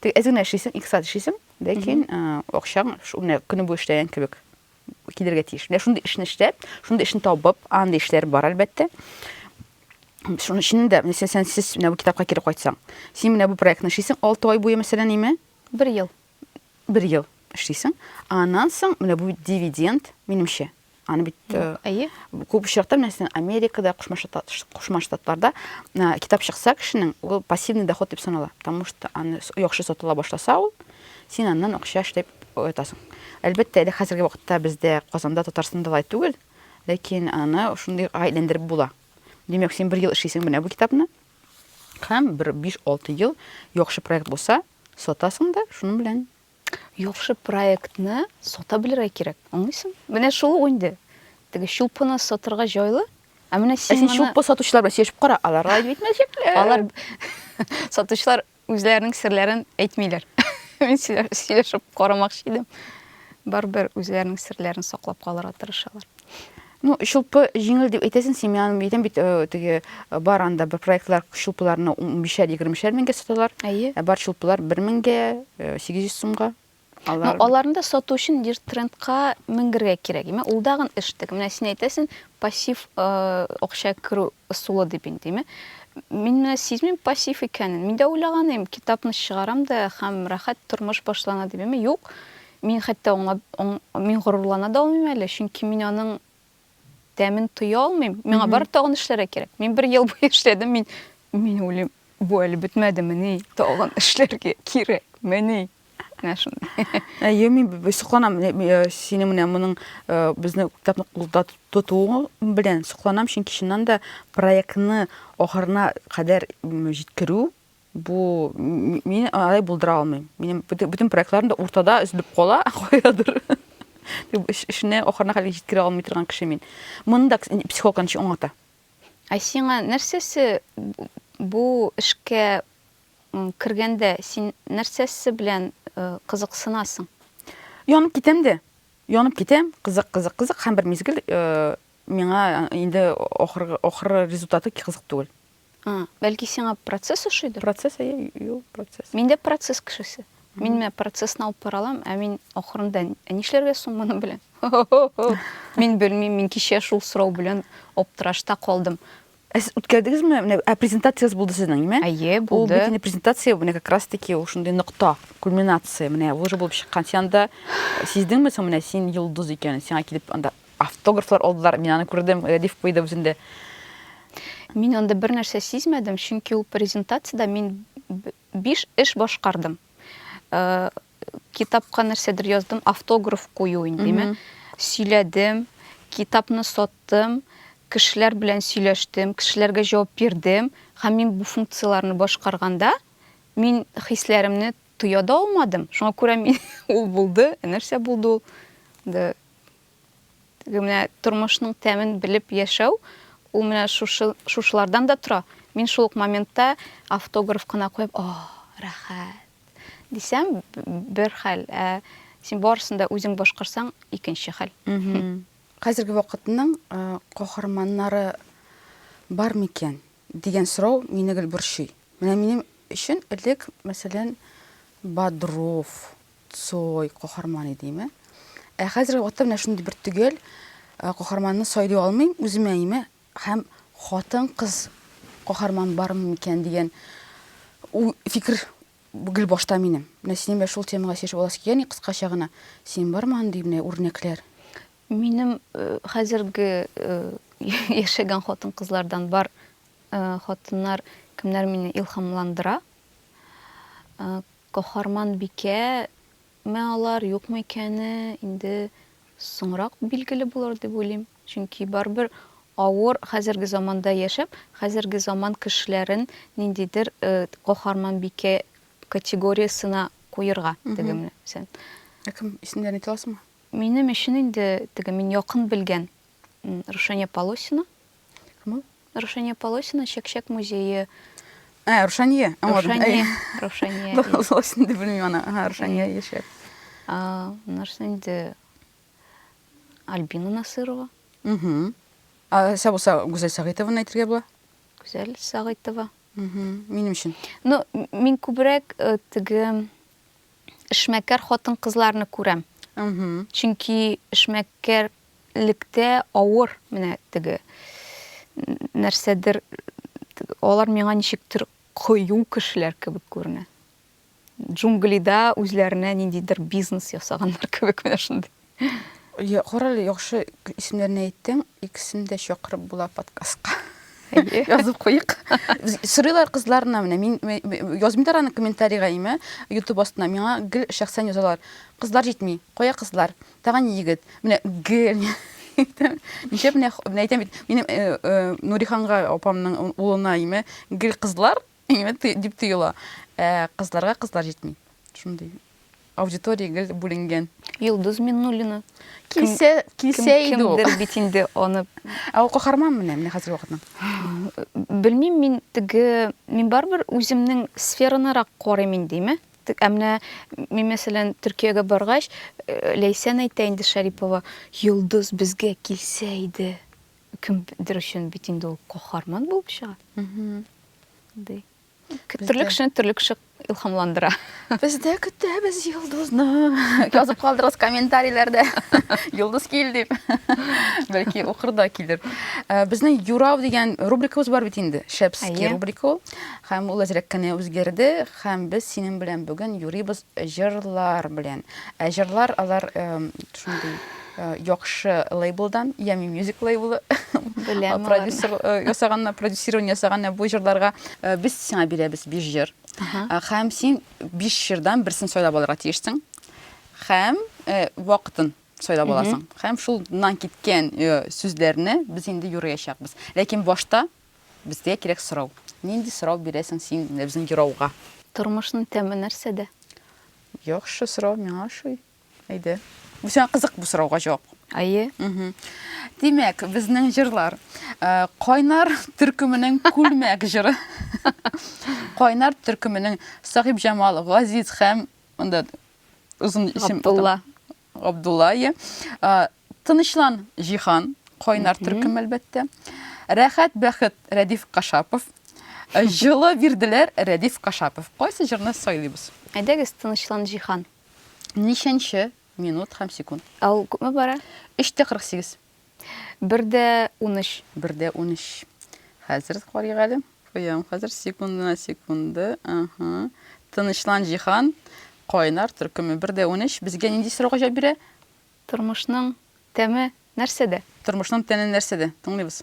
Теге әз генә эшлисең, иксат эшлисең, ләкин акчаң шуны көне буе эшләгән кебек. килергә тиеш. Менә шундый эшне эшләп, шундый эшне табып, андый эшләр бар, әлбәттә. Шуның өчен дә, мәсәлән, сен сез менә бу китапка кире кайтсаң, син менә бу проектны эшлисең 6 ай буе, мәсәлән, име? 1 ел. 1 ел эшлисең. Аннан соң менә бу дивиденд, минемчә, аны бит э, әйе күп очракта мәсәлән америкада кушма штат кушма штатларда э, китап чыкса кешенең ул пассивный доход дип санала потому что аны яхшы сатыла башласа ул Син аннан акча эшләп оятасың. Әлбәттә, әле хәзерге вакытта бездә, Казанда, Татарстанда алай түгел, ләкин аны шундый әйләндереп була. Димәк, син бер ел эшлисең менә бу китапны, һәм бер биш-алты ел яхшы проект булса, сатасың да шуның белән яхшы проектны сата белергә кирәк. Аңлыйсың? Менә шул ук инде. Теге чулпыны сатырга җайлы, ә менә син Ә син моны... чулпы сатучылар белән сөйләшеп кара, алар алай дип әйтмәячәкләр. Алар сатучылар Үзләренең серләрен әйтмиләр. Мин сөйләшеп карамакчы идем. Барбер үзләренең серләрен саклап калырга тырышалар. Ну, шулпы җиңел дип әйтәсен, семьяны битен бит э, теге э, бар анда бер проектлар шулпыларны 15-20-шәр меңгә саталар. Әйе. Э, бар шулпылар 1000 меңгә, 800 сумга. Алар... Ну, аларны да сату өчен диртрендка менгергә кирәк. Име, ул дагын эш тек. Менә син әйтәсен, пассив э, акча керү ысулы дип инде, име? Мин менә сизмим пассив икәнен. Мин дә уйлаган идем, китапны чыгарам да һәм рәхәт тормыш башлана дип, име? Юк. Мин хәтта аңлап, аң, мин горурлана да алмыйм әле, чөнки мин аның тәмен тоя алмыйм. Миңа бары тагын эшләргә кирәк. Мин бер ел буе эшләдем, мин мин уйлыйм, бу әле бетмәдемени, тагын эшләргә кирәкмени. Менә шундый. Әйе, мин сокланам э, сине менә моның э, безне китапны кулда тотуы белән сокланам, чөнки чыннан да проектны ахырына кадәр җиткерү Бу мин алай булдыра алмыйм. Минем бүтән проектларым да уртада үзлеп кала, кайдадыр. Дип эшне ахырына хәлгә җиткерә алмый торган кеше мин. Моны да психолог анча аңлата. Ә сиңа нәрсәсе бу эшкә кергәндә син нәрсәсе белән э, кызыксынасың? Янып китәм дә. Янып китәм, кызык, кызык, кызык һәм бер мизгел э, Миңа инде ахыргы ахыры результаты кызык түгел. А, бәлки сиңа процесс ошыйдыр? Процесс, әйе, юл процесс. Мин дә процесс кешесе. Мин менә процессны алып бара алам, ә мин ахырында ә нишләргә соң моны белән? Мин белмим, мин кичә шул сорау белән аптырашта калдым. Ә сез үткәрдегезме? Менә ә презентацияс булды сезнең, ме? Әйе, булды. Ул бит презентация, менә как раз таки ул шундый нокта, кульминация. Менә уже булып чыккан. Син анда э, сиздеңме соң менә син йолдыз икәнен? Сиңа килеп анда автографлар алдылар. Мин аны күрдем, Рәдиф куйды үзендә. Мин анда бер нәрсә сизмәдем, чөнки ул презентацияда мин биш эш башкардым. Э, китапка нәрсәдер яздым, автограф кую индеме, сөйләдем, китапны саттым, кешеләр белән сөйләштем, кешеләргә җавап бирдем. Һәм мин бу функцияләрне башкарганда, мин хисләремне тоя да алмадым. Шуңа күрә мин ул булды, ә нәрсә булды ул? Да. Менә тормышның тәмен белеп яшәү, ул менә шушы шушылардан да тора. Мин шул ук моментта автограф кына куеп, "О, рәхәт!" дисәм, бер хәл, ә син барысын да үзең башкарсаң, икенче хәл. Хәзерге вакытның каһарманнары бар микән дигән сорау мине гел борчый. Менә минем өчен элек, мәсәлән, Бодров, Цой каһарман иде име. Ә хәзерге вакытта менә шундый бер төгәл каһарманны сайлый алмыйм, үземә име Һәм хатын-кыз каһарман бармы микән дигән уй, фикер гел башта минем. Менә синең белән шул темага сөйләшеп аласы килгән иде кыскача гына. Синең бармы андый менә үрнәкләр? Минем хәзерге яшәгән хатын-кызлардан бар хатыннар кемнәр мине илһамландыра? Каһарманбикә Ме алар, юкмы икәне инде соңрак билгеле булыр дип уйлыйм. Чөнки барыбер авыр хәзерге заманда яшәп, хәзерге заман кешеләрен ниндидер каһарманбикә категориясенә куерга тегемне сен. Ә кем, исемнәрен әйтә аласыңмы? Минем өчен инде теге мин якын белгән Рушания Полосина. Кем? Рушания Полосина Чәкчәк музее. Ә, Рушания. Рушания. Рушания. Полосина дип белмим аны. Ага, Рушания яшәп. А, нәрсә инде? Альбина Насырова. Угу. А, Сабуса Гүзәл Сагыйтованы әйтергә була? Гүзәл Сагыйтова. Угу. Минем өчен. Ну, мин күбрәк э, теге эшмәкәр хатын-кызларны күрәм. Угу. Чөнки эшмәкәр җитәкчелектә авыр менә теге нәрсәдер алар миңа ничектер кыю кешеләр кебек күренә. Джунглида үзләренә ниндидер бизнес ясаганнар кебек менә шундый. Я, карале, яхшы исемнәрне әйттең. Икесен дә чакырып була подкастка. Әйе. Язып куйыйк. Сорыйлар кызларына менә. Мин язмыйлар аны комментарийга име, YouTube астына. Миңа гел шәхсән язалар. Кызлар җитми. Кая кызлар? Тагын егет. Менә гел әйтәм. Нишләп менә менә әйтәм бит, минем э, э, Нуриханга апамның улына име гел кызлар име ты- дип тоела. Ә кызларга кызлар җитми. Шундый аудитория гел бүленгән. Йолдыз Миннуллина. Килсә, килсә иде ул. Кемдер бит инде аны. Ә ул каһарман менә, менә хәзер вакытның. Белмим, мин теге, мин барыбер үземнең сферанырак карыйм индеме? Ә менә мин, мәсәлән, Төркиягә баргач, Ләйсән әйтә инде Шарипова, Йолдыз безгә килсә иде. Кемдер өчен бит инде ул каһарман булып чыга. Ди. Төрле кешене төрле кеше илһамландыра. Без дә көтәбез Йолдызны. Язып калдырыгыз комментарийләрдә. Йолдыз кил дип. Бәлки укыр да килер. Безнең Юрау дигән рубрикабыз бар бит инде. Шәпский рубрика ул. Һәм ул әзрәк кенә үзгәрде. Һәм без синең белән бүген юрыйбыз җырлар белән. Ә җырлар алар шундый яхшы лейблдан, Ями Music лейблы белән продюсер ясаганна, продюсирование ясаганна бу җырларга без сиңа бирәбез 5 җыр. Һәм син 5 җырдан берсен сайлап алырга тиешсең. Һәм вакытын сайлап аласың. Һәм шулнан киткән сүзләрне без инде юрыячакбыз. Ләкин башта Безгә кирәк сорау. Нинди сорау бирәсең син безнең юрауга? Тормышның тәме нәрсәдә? Яхшы сорау, миңа ошый. Әйдә. Бу сиңа кызык бу сорауга җавап. Әйе. Димәк, безнең җырлар. Кайнар төркеменең Күлмәк җыры. Кайнар төркеменең Сахибҗамал, Газиз һәм монда озын исем. Габдулла. Габдуллае. Тынычлан, Җиһан. Кайнар төркем, әлбәттә. Рәхәт, бәхет, Рәдиф Кашапов. Җылы бирделәр, Рәдиф Кашапов. Кайсы җырны сайлыйбыз? Әйдәгез, Тынычлан, Җиһан. Ничәнче минут һәм секунд? Ул күпме бара? 3 тә 48. Бер дә унөч. Бер дә унөч. Хәзер карыйк әле. Куям хәзер секундына секунды. Ага. Тынычлан, Җиһан. Кайнар төркеме. Бер дә унөч. Безгә нинди сорауга җавап бирә? Тормышның тәме нәрсәдә? Тормышның тәне нәрсәдә? Тыңлыйбыз.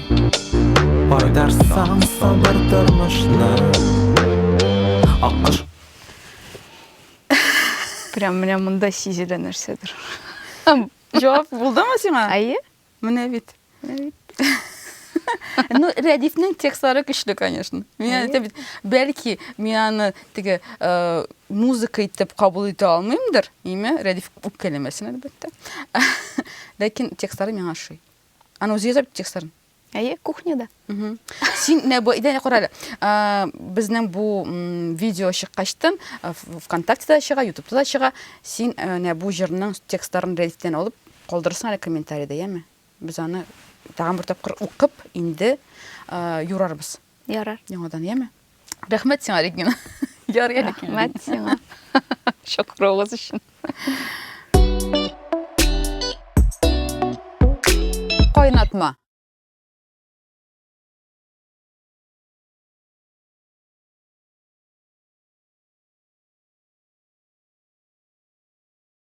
Кайтарсаң сабыр тормышны Аккош Прям менә монда сизелә нәрсәдер. Җавап булдымы сиңа? Әйе. Менә бит. Менә бит. Ну, Рәдифнең текстлары көчле, конечно. Мин әйтәм бит, бәлки мин аны теге э, музыка итеп кабул итә алмыймдыр, име? Рәдиф үпкәләмәсен, әлбәттә. Ләкин текстлары миңа ошый. Аны үзе язып текстларын? Әйе, кухняда. Син менә бу идәне кара әле. Безнең бу видео чыккачтын ВКонтактеда чыга, Ютубта да чыга. Син менә бу җырның текстларын рәдифтән алып калдырсаң әле комментариядә, яме? Без аны тагын бер тапкыр укып инде юрарбыз. Ярар. Яңадан, яме? Рәхмәт сиңа, Регина. Яр әле килдең. Рәхмәт сиңа. Чакыруыгыз өчен. Кайнатма.